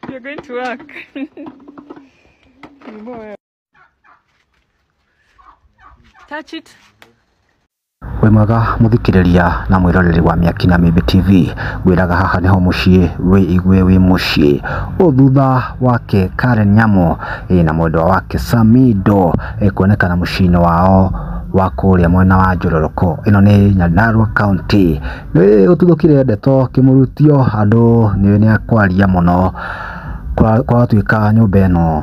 You're going to work. Touch it. wĩ mwega mũthikĩrĩria na mwĩroreri wa mĩaki na mĩmbi tv ngwĩraga haha nĩho mũciĩ wĩ igwe wĩ mũciĩ o thutha wake karen nyamo ĩ na mwendwa wake samido ĩkuonekana mũciĩ-inĩ wao wa kũrĩa mwena wa Njororoko. Ĩno nĩ Nyandarua County. Nĩ gũtuthũkire ndeto kĩmurutio andũ nĩ nĩ akwaria mũno kwa- kwatuĩka nyũmba ĩno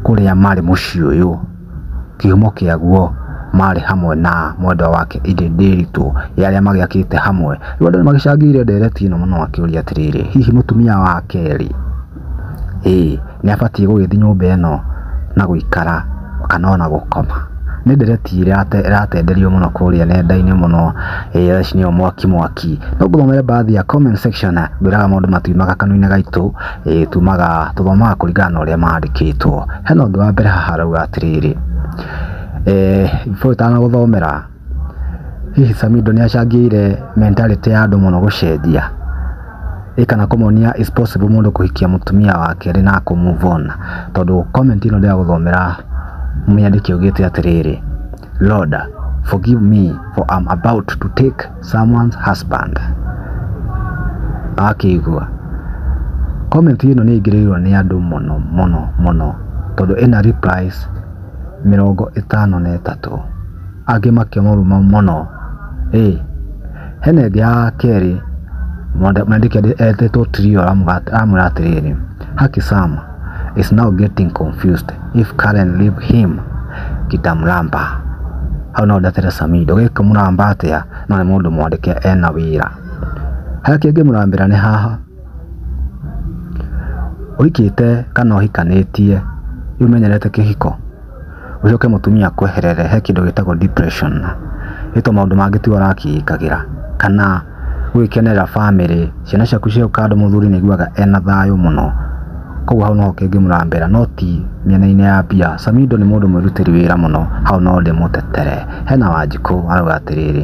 kũrĩa marĩ mũciĩ ũyũ kĩhumo kĩaguo marĩ hamwe na mwendwa wake Ĩndĩ Ndĩritũ ya arĩa magĩakĩte hamwe. Rĩu andũ nĩ magĩcangĩire ndereti ĩno mũno makĩũria atĩrĩrĩ, hihi mũtumia wake rĩ? Ĩĩ nĩ abatiĩ gũgĩthiĩ nyũmba ĩno na gũikara kana ona gũkoma. Nĩ ndereti ĩratenderio mũno kũrĩa nenda-inĩ mũno ĩrĩa nĩyo mwaki mwaki. No ngũthomere baadhi ya comment section ngwĩraga maũndũ matiumaga kanua-inĩ gaitũ, ĩĩ tumaga tũthomaga kũringana na ũrĩa mandĩkĩtwo. Hena ũndũ wa mbere haha ũrauga atĩrĩrĩ, before itanagũthomera... Hihi Samido nĩ acangĩire mentality ya andũ mũno gũcenjia? Ĩ kana kũmonia it's possible mũndũ kũhikia mũtumia wa kerĩ na kũ move on? Tondũ comment ĩno ndĩragũthomera mwandĩki augĩte atĩrĩrĩ, Lord forgive me for am about to take someone's husband. Wakĩigua? Comment ĩno nĩ ĩingĩrĩirwo nĩ andũ mũno mũno mũno tondũ ĩna replies mĩrongo ĩtano na ĩtatũ. Angĩ makĩmũruma mũno. Ĩ! Hena ĩngĩ ya kerĩ, mwandĩki etĩtwo Trio aramwĩra atĩrĩrĩ, Haki Sam is now getting confused if Karen leave him kitamuramba. Hau no ndetere Samido, gĩkũmũramba atĩa na nĩ mũndũ mwandĩke ena wĩra. Harĩa kĩngĩmũrambĩra nĩ haha. Ũhikĩte kana ũhikanĩtie rĩu ũmenyerete kĩhiko ũcoke mũtumia akweherere he kĩndũ gĩtagwo depression nĩ tondũ maũndũ mangĩ tiwe ũrakĩĩkagĩra kana gũgĩkenerera bamĩrĩ ciana ciaku cioka handũ mũthuri nĩ aiguaga ena thayũ mũno kwoguo hau no ho kĩngĩ mũrambera no ti mĩena-inĩ ya mbia. Samido nĩ mũndũ mwĩrutĩri wĩra mũno hau no ndĩmũtetere. Hena Wanjikũ arauga atĩrĩrĩ.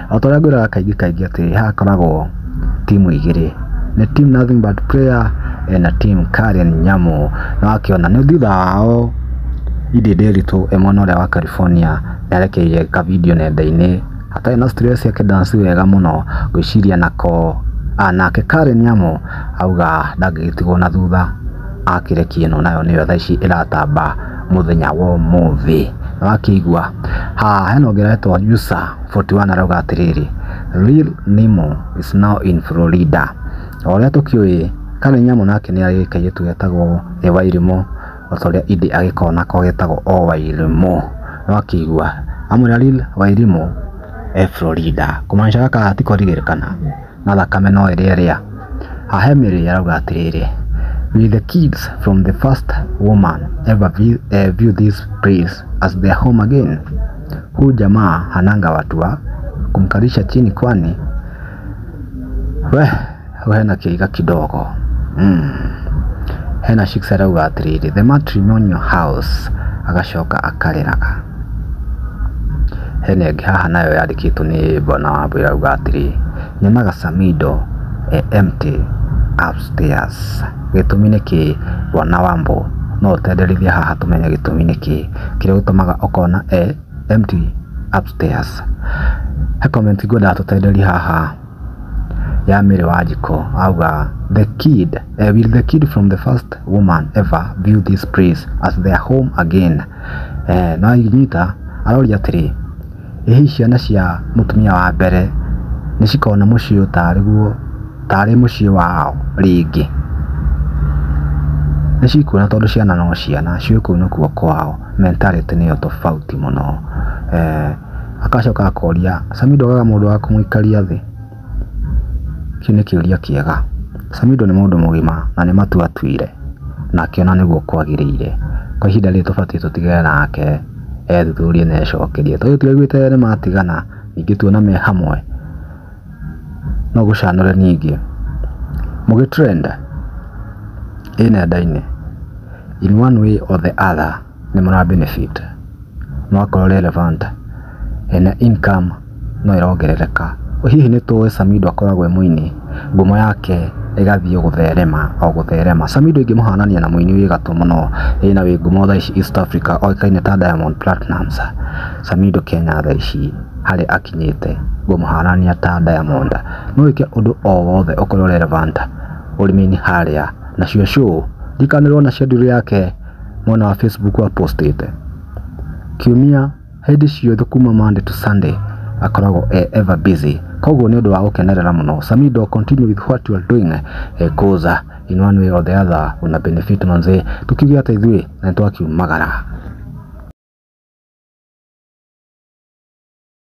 O ta ũrĩa ngwĩraga kaingĩ kaingĩ atĩ haha hakoragwo timu igĩrĩ. Nĩ team nothing but prayer na team Karen Nyamu. Na wakĩona nĩ thutha wao Idi Nderitu e mwena ũrĩa wa California nĩ arekeire ka video nenda-inĩ atarĩ na stress akĩ dance wega mũno ngwĩciria nako. Nake Karen Nyamu auga ndangĩgĩtigwo na thutha akĩrekia ĩno nayo nĩyo thaa ici ĩratamba mũthenya wa ũmũthĩ. Nĩ wakĩigua. Haha hena ũngĩ ũretwo Jussa. 41 arauga atĩrĩrĩ, Lil Nimo is now in Florida. O ũrĩa tũkĩũĩ, Karen Nyamu nake nĩ arĩ kairĩtu getagwo The Wairimũ, o ta ũrĩa Iddĩ agĩkoragwo nako getagwo o Wairimũ. Nĩ wakĩigua. Amwĩra Lil Wairimũ e Florida. Kũmaanisha gaka gatikorire kana. na thakame no ĩrĩe rĩa. Ahemiri arauga atĩrĩrĩ, Will the kids from the first woman ever vi- eh, view this place as their home again? Huu jamaa hananga watu wa kumkalisha chini kwani we we hena kĩiga kidogo mm. hena shiksa arauga atĩrĩrĩ the matrimonial house agacoka akarĩraga Hena ĩngĩ haha nayo yandĩkĩtwo nĩ bwana wambũi ĩrauga atĩrĩ, nyonaga Samido e empty upstairs. Gĩtũmi nĩkĩĩ bwana wambũ? No ũtwenderithie haha tũmenye gĩtũmi nĩkĩĩ kĩrĩa gĩtũmaga ũkona e empty upstairs. He comment ngwendaga tũtenderie haha ya Mary Wanjikũ arauga, the kid, will the kid from the first woman ever view this place as their home again? eeh na aigwitha aroria atĩrĩ, ĩ hihi ciana cia mũtumia wa mbere nĩ cikona mũciĩ ũyũ tarĩ guo, tarĩ mũciĩ wao rĩngĩ? Nĩ cikuona tondũ ciana no ciana, ciũĩ kũu nĩkuo kwao, mentality nĩyo tofauti mũno. Eeh agacoka akoria, Samidoh we mũndũ wa kũmũikaria thĩ? Kĩu nĩ kĩũria kĩega. Samido nĩ mũndũ mũgima na nĩ matua atuire na akĩona nĩguo kwagĩrĩire. Kwa ihinda rĩrĩ tũbatiĩ tũtigane nake ethuthurie na ecokerie. Tondũ tũtiraiguĩte nĩ matigana ingĩtuona me hamwe no gũcanũre ningĩ. Mũgĩ trend ĩ nenda-inĩ in one way or the other. nĩ mũra benefit no akorwo relevant ena income no ĩrongerereka. Hihi nĩ tũĩ Samido akoragwo e mũini, ngumo yake ĩgathiĩ gũtherema o gũtherema. Samido ingĩmũhanania na mũini wĩ gatũ mũno wĩna wĩ ngumo thaa ici East Africa oĩkaine ta Diamond Platnumz, Samido Kenya thaa ici harĩa akinyĩte ngũmũhanania ta Diamond. No wĩke ũndũ o wothe ũkorwo relevant ũrĩmi-inĩ harĩa nacio show ndikanĩrwo na schedule yake. mwena wa Facebook wa postĩte kiumia hĩndĩ ciothe kuma Monday to Sunday akoragwo e ever busy koguo nĩ ũndũ wa gũkenerera mũno Samido continue with what you are doing eh, cause uh, in one way or the other una benefit manze tukiuge hata ithuĩ na nĩ twakiumagara